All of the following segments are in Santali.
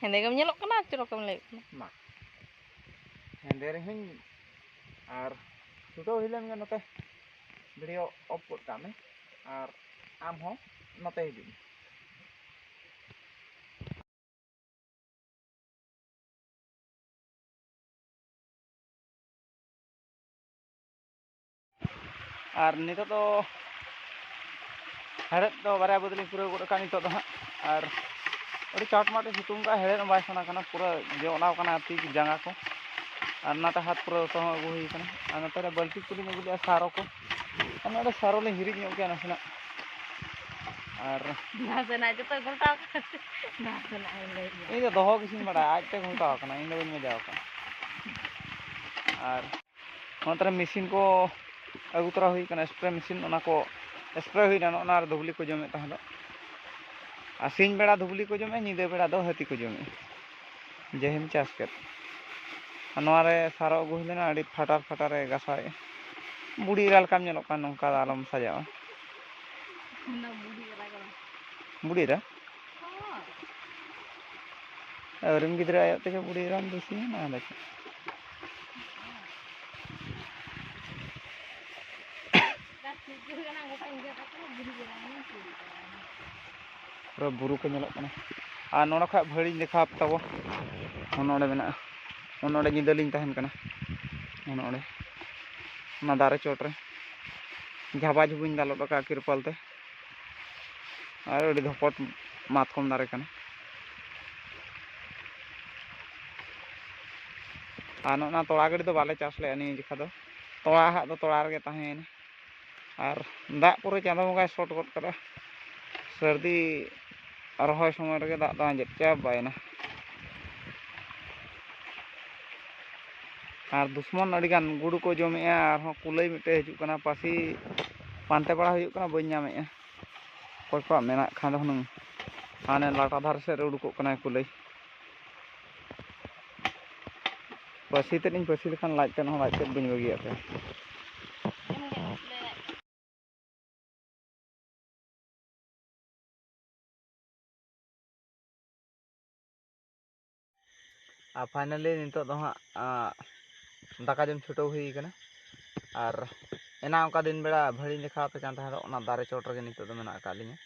ᱦᱮᱸᱫᱮ ᱜᱮᱢ ᱧᱮᱞᱚᱜ ᱠᱟᱱᱟ ᱪᱚᱨᱚᱠ ᱮᱢ ᱞᱟᱹᱭᱚᱜ ᱠᱟᱱᱟ ᱢᱟ ᱦᱮᱸᱫᱮ ᱨᱮᱦᱚᱸᱧ ᱟᱨ ᱪᱷᱩᱴᱟᱹᱣ ᱦᱩᱭ ᱞᱮᱱ ᱜᱮ ᱱᱚᱛᱮ ᱵᱷᱤᱰᱤᱭᱳ ᱚᱯᱷ ᱜᱚᱫ ᱠᱟᱜ ᱢᱮ ᱟᱨ ᱟᱢ ᱦᱚᱸ ᱱᱚᱛᱮ ᱦᱤᱡᱩᱜ ᱢᱮ ᱟᱨ ᱱᱤᱛᱚᱜ ᱫᱚ ᱦᱮᱲᱦᱮᱫ ᱫᱚ ᱵᱟᱨᱭᱟ ᱵᱟᱹᱫᱽ ᱞᱤᱧ ᱯᱩᱨᱟᱹᱣ ᱜᱚᱫ ᱟᱠᱟᱫ ᱱᱤᱛᱚᱜ ᱫᱚ ᱦᱟᱸᱜ ᱟᱨ ᱟᱹᱰᱤ ᱪᱟᱴᱢᱟᱴᱮ ᱥᱤᱛᱩᱝ ᱠᱟᱜᱼᱟ ᱦᱮᱲᱦᱮᱫ ᱦᱚᱸ ᱵᱟᱭ ᱥᱟᱱᱟ ᱠᱟᱱᱟ ᱯᱩᱨᱟᱹ ᱡᱚᱞᱟᱣ ᱠᱟᱱᱟ ᱛᱤ ᱡᱟᱸᱜᱟ ᱠᱚ ᱟᱨ ᱱᱚᱛᱮ ᱦᱟᱛ ᱯᱩᱨᱟᱹ ᱫᱚᱛᱚ ᱦᱚᱸ ᱟᱹᱜᱩ ᱦᱩᱭ ᱠᱟᱱᱟ ᱟᱨ ᱱᱚᱛᱮ ᱨᱮ ᱵᱟᱹᱞᱛᱤ ᱠᱚᱞᱤᱧ ᱟᱹᱜᱩ ᱞᱮᱫᱼᱟ ᱥᱟᱨᱚ ᱠᱚ ᱟᱨ ᱱᱚᱰᱮ ᱥᱟᱨᱚ ᱞᱤᱧ ᱦᱤᱨᱤᱡ ᱧᱚᱜ ᱠᱮᱫᱼᱟ ᱱᱟᱥᱮᱱᱟᱜ ᱟᱨ ᱱᱟᱥᱮᱱᱟᱜ ᱡᱚᱛᱚ ᱜᱷᱚᱞᱴᱟᱣ ᱱᱟᱥᱮᱱᱟᱜ ᱞᱟᱹᱭ ᱤᱧ ᱫᱚ ᱫᱚᱦᱚ ᱜᱮᱥᱤᱧ ᱵᱟᱲᱟᱭᱟ ᱟᱡᱛᱮ ᱜᱷᱚᱞᱴᱟᱣ ᱠᱟᱱᱟ ᱤᱧ ᱫᱚ ᱵᱟᱹᱧ ᱢᱮᱡᱟᱣ ᱠᱟᱱᱟ ᱟᱨ ᱚᱱᱟ ᱛᱟᱨᱮ ᱢᱮᱥᱤᱱ ᱠᱚ ᱟᱹᱜᱩ ᱛᱚᱨᱟ ᱦᱩᱭ ᱠᱟᱱᱟ ᱥᱯᱨᱮ ᱢᱮᱥᱤᱱ ᱚᱱᱟ ᱠᱚ ᱥᱯᱨᱮ ᱦᱩᱭᱱᱟ ᱱᱚᱜᱼᱚ ᱱᱚᱣᱟ ᱨᱮ ᱫᱷᱩᱵᱽᱞᱤ ᱠᱚ ᱡᱚᱢᱮᱫ ᱛᱟᱦᱮᱸ ᱫᱚ ᱟᱨ ᱥᱤᱧ ᱵᱮᱲᱟ ᱫᱷᱩᱵᱽᱞᱤ ᱠᱚ ᱡᱚᱢᱮᱫ ᱧᱤᱫᱟᱹ ᱵᱮᱲᱟ ᱫᱚ ᱦᱟᱹᱛᱤ ᱠᱚ ᱡᱚᱢᱮᱫ ᱡᱮᱦᱮᱢ ᱪᱟᱥ ᱠᱮᱫ ᱟᱨ ᱱᱚᱣᱟ ᱨᱮ ᱥᱟᱨᱚ ᱟᱹᱜᱩ ᱦᱩᱭ ᱞᱮᱱᱟ ᱟᱹᱰᱤ ᱯᱷᱟᱴᱟᱨ ᱯᱷᱟᱴᱟᱨᱮ ᱜᱟᱥᱟᱣᱮᱫᱼᱟ ᱵᱩᱲᱤ ᱮᱨᱟ ᱞᱮᱠᱟᱢ ᱧᱮᱞᱚᱜ ᱠᱟᱱ ᱱᱚᱝᱠᱟ ᱫᱚ ᱟᱞᱚᱢ ᱥᱟᱡᱟᱣᱟ ᱵᱩᱲᱤ ᱮᱨᱟ ᱟᱹᱣᱨᱤᱢ ᱜᱤᱫᱽᱨᱟᱹ ᱟᱭᱚᱜ ᱛᱮᱜᱮ ᱵᱩᱲᱤ ᱮᱨᱟᱢ ᱫᱩᱥᱤᱭᱮᱱᱟ ᱟᱫᱚ ᱪᱮᱫ ᱯᱩᱨᱟᱹ ᱵᱩᱨᱩ ᱠᱚ ᱧᱮᱞᱚᱜ ᱠᱟᱱᱟ ᱟᱨ ᱱᱚᱰᱮ ᱠᱷᱚᱡ ᱵᱷᱟᱹᱲᱤᱧ ᱫᱮᱠᱷᱟᱣ ᱛᱟᱵᱚ ᱱᱚᱰᱮ ᱢᱮᱱᱟᱜᱼᱟ ᱱᱚᱰᱮ ᱧᱤᱫᱟᱹ ᱞᱤᱧ ᱛᱟᱦᱮᱱ ᱠᱟᱱᱟ ᱱᱚᱰᱮ ᱚᱱᱟ ᱫᱟᱨᱮ ᱪᱚᱴ ᱨᱮ ᱡᱷᱟᱵᱟ ᱡᱷᱩᱵᱤᱧ ᱫᱟᱞᱚᱵ ᱟᱠᱟᱫᱼᱟ ᱛᱤᱨᱯᱚᱞ ᱛᱮ ᱟᱨ ᱟᱹᱰᱤ ᱫᱷᱚᱯᱚᱴ ᱢᱟᱛᱠᱚᱢ ᱫᱟᱨᱮ ᱠᱟᱱᱟ ᱟᱨ ᱱᱚᱜᱼᱚ ᱱᱟ ᱛᱚᱲᱟ ᱜᱟᱹᱰᱤ ᱫᱚ ᱵᱟᱞᱮ ᱪᱟᱥ ᱞᱮᱫᱼᱟ ᱱᱤᱭᱟᱹ ᱡᱚᱠᱷᱟ ᱫᱚ ᱛᱚᱲᱟ ᱦᱟᱜ ᱫᱚ ᱛᱚᱲᱟ ᱨᱮᱜᱮ ᱛᱟᱦᱮᱸᱭᱮᱱᱟ ᱟᱨ ᱫᱟᱜ ᱯᱩᱨᱟᱹ ᱪᱟᱸᱫᱳ ᱵᱚᱸᱜᱟᱭ ᱥᱚᱴ ᱜᱚᱫ ᱠᱟᱫᱟ ᱥᱟᱹᱨᱫᱤ ᱨᱚᱦᱚᱭ ᱥᱚᱢᱚᱭ ᱨᱮᱜᱮ ᱫᱟᱜ ᱫᱚ ᱟᱸᱡᱮᱫ ᱪᱟᱵᱟᱭᱮᱱᱟ ᱟᱨ ᱫᱩᱥᱢᱚᱱ ᱟᱹᱰᱤᱜᱟᱱ ᱜᱩᱰᱩ ᱠᱚ ᱡᱚᱢᱮᱜᱼᱟ ᱟᱨᱦᱚᱸ ᱠᱩᱞᱟᱹᱭ ᱢᱤᱫᱴᱮᱡ ᱦᱤᱡᱩᱜ ᱠᱟᱱᱟ ᱯᱟᱹᱥᱤ ᱯᱟᱱᱛᱮ ᱵᱟᱲᱟ ᱦᱩᱭᱩᱜ ᱠᱟᱱᱟ ᱵᱟᱹᱧ ᱧᱟᱢᱮᱜᱼᱟ ᱚᱠᱚᱭ ᱠᱚᱣᱟᱜ ᱢᱮᱱᱟᱜ ᱠᱷᱟᱱ ᱫᱚ ᱦᱩᱱᱟᱹᱝ ᱦᱟᱱᱮ ᱞᱟᱴᱟ ᱫᱷᱟᱨᱮ ᱥᱮᱫ ᱨᱮ ᱩᱰᱩᱠᱚᱜ ᱠᱟᱱᱟᱭ ᱠᱩᱞᱟᱹᱭ ᱯᱟᱹᱥᱤ ᱛᱮᱫ ᱤᱧ ᱯᱟᱹᱥᱤ ᱞᱮᱠᱷᱟᱱ ᱞᱟᱡ ᱛᱮᱫ ᱦᱚᱸ ᱞᱟᱡ ᱛᱮᱫ ᱵᱟᱹᱧ ᱵᱟᱹᱜᱤᱭᱟᱜ ᱛᱟᱭᱟ ᱟᱨ ᱯᱷᱟᱭᱱᱟᱞᱤ ᱱᱤᱛᱚᱜ ᱫᱚ ᱦᱟᱸᱜ ᱫᱟᱠᱟ ᱡᱚᱢ ᱪᱷᱩᱴᱟᱹᱣ ᱦᱩᱭ ᱠᱟᱱᱟ ᱟᱨ ᱮᱱᱟ ᱚᱱᱠᱟ ᱫᱤᱱ ᱵᱮᱲᱟ ᱵᱷᱟᱹᱲᱤᱧ ᱫᱮᱠᱷᱟᱣ ᱟᱯᱮ ᱠᱟᱱ ᱛᱟᱦᱮᱸ ᱫᱚ ᱚᱱᱟ ᱫᱟᱨᱮ ᱪᱚᱴ ᱨᱮᱜᱮ ᱱᱤᱛᱚᱜ ᱫᱚ ᱢᱮᱱᱟᱜ ᱟᱠᱟᱫ ᱞᱤᱧᱟ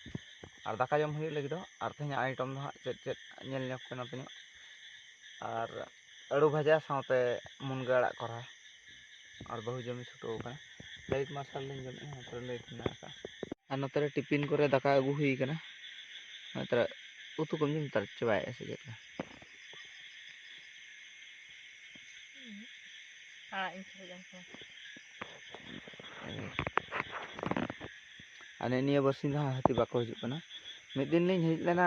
ᱟᱨ ᱫᱟᱠᱟ ᱡᱚᱢ ᱦᱩᱭᱩᱜ ᱞᱟᱹᱜᱤᱫ ᱫᱚ ᱟᱨ ᱛᱮᱦᱮᱧᱟᱜ ᱟᱭᱴᱚᱢ ᱫᱚ ᱦᱟᱸᱜ ᱪᱮᱫ ᱪᱮᱫ ᱧᱮᱞ ᱧᱚᱜ ᱯᱮ ᱱᱚᱛᱮ ᱧᱚᱜ ᱟᱨ ᱟᱹᱲᱩ ᱵᱷᱟᱡᱟ ᱥᱟᱶᱛᱮ ᱢᱩᱱᱜᱟᱹ ᱟᱲᱟᱜ ᱠᱚᱨᱦᱟ ᱟᱨ ᱵᱟᱹᱦᱩ ᱡᱚᱢᱮ ᱪᱷᱩᱴᱟᱹᱣ ᱟᱠᱟᱱᱟ ᱞᱟᱭᱤᱴ ᱢᱟᱨᱥᱟᱞ ᱞᱤᱧ ᱡᱚᱢᱮᱫᱼᱟ ᱱᱚᱛᱮ ᱨᱮ ᱞᱟᱭᱤᱴ ᱢᱮᱱᱟᱜ ᱟᱠᱟᱫᱼᱟ ᱟᱨ ᱱᱚᱛᱮ ᱨᱮ ᱴᱤᱯᱤᱱ ᱠᱚᱨᱮ ᱫᱟᱠᱟ ᱟᱹᱜᱩ ᱦᱩᱭ ᱟᱠᱟᱱᱟ ᱱᱚᱛᱮ ᱨᱮ ᱩᱛᱩ ᱠᱚᱢ ᱡᱚᱢ ᱛᱟᱨ ᱪᱟᱵᱟᱭᱮᱫᱼᱟ ᱥᱮ ᱪᱮᱫ ᱟᱲᱟᱜ ᱤᱧ ᱥᱟᱹᱨᱤ ᱡᱚᱢ ᱠᱚᱣᱟ ᱟᱨ ᱱᱤᱭᱟᱹ ᱵᱟᱨᱥᱤᱧ ᱫᱚ ᱦᱟᱸᱜ ᱦᱟᱹᱛᱤ ᱵᱟᱠᱚ ᱦᱤᱡᱩᱜ ᱠᱟᱱᱟ ᱢᱤᱫ ᱫᱤᱱ ᱞᱤᱧ ᱦᱮᱡ ᱞᱮᱱᱟ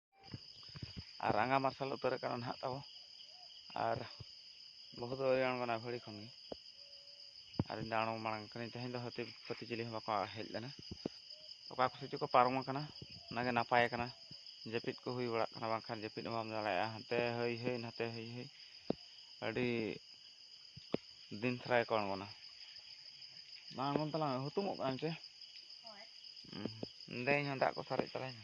ᱟᱨ ᱨᱟᱸᱜᱟ ᱢᱟᱨᱥᱟᱞ ᱩᱛᱟᱹᱨ ᱟᱠᱟᱱᱟ ᱱᱟᱦᱟᱜ ᱛᱟᱵᱚ ᱟᱨ ᱵᱟᱹᱦᱩ ᱫᱚ ᱟᱹᱣᱨᱤ ᱟᱬᱜᱚᱱᱟ ᱵᱷᱟᱹᱲᱤ ᱠᱷᱚᱱ ᱜᱮ ᱟᱨ ᱤᱧ ᱫᱚ ᱟᱬᱜᱚ ᱢᱟᱲᱟᱝ ᱠᱟᱹᱱᱟᱹᱧ ᱛᱮᱦᱮᱧ ᱫᱚ ᱦᱟᱹᱛᱤ ᱯᱟᱹᱛᱤ ᱪᱤᱞᱤ ᱦᱚᱸ ᱵᱟᱠᱚ ᱦᱮᱡ ᱞᱮᱱᱟ ᱚᱠᱟ ᱠᱚᱥᱮᱫ ᱪᱚᱠᱚ ᱯᱟᱨᱚᱢ ᱟᱠᱟᱱᱟ ᱚᱱᱟᱜᱮ ᱱᱟᱯᱟᱭ ᱟᱠᱟᱱᱟ ᱡᱟᱹᱯᱤᱫ ᱠᱚ ᱦᱩᱭ ᱵᱟᱲᱟᱜ ᱠᱟᱱᱟ ᱵᱟᱝᱠᱷᱟᱱ ᱡᱟᱹᱯᱤᱫ ᱦᱚᱸ ᱵᱟᱢ ᱫᱟᱲᱮᱭᱟᱜᱼᱟ ᱦᱟᱱᱛᱮ ᱦᱟᱹᱭ ᱦᱟᱹᱭ ᱱᱟᱛᱮ ᱦᱟᱹᱭ ᱦᱟᱹᱭ ᱟᱹᱰᱤ ᱫᱤᱱ ᱛᱷᱟᱨᱟ ᱜᱮᱠᱚ ᱟᱬᱜᱚᱱᱟ ᱵᱟᱝ ᱟᱬᱜᱚᱱ ᱛᱟᱞᱟᱝ ᱦᱩᱛᱩᱢᱚᱜ ᱠᱟᱱᱟᱢ ᱪᱮ ᱫᱮ ᱤᱧ ᱦᱚᱸ ᱫᱟᱜ ᱠᱚ ᱥᱟᱨᱮᱡ ᱛᱟᱞᱟᱧ ᱢᱮ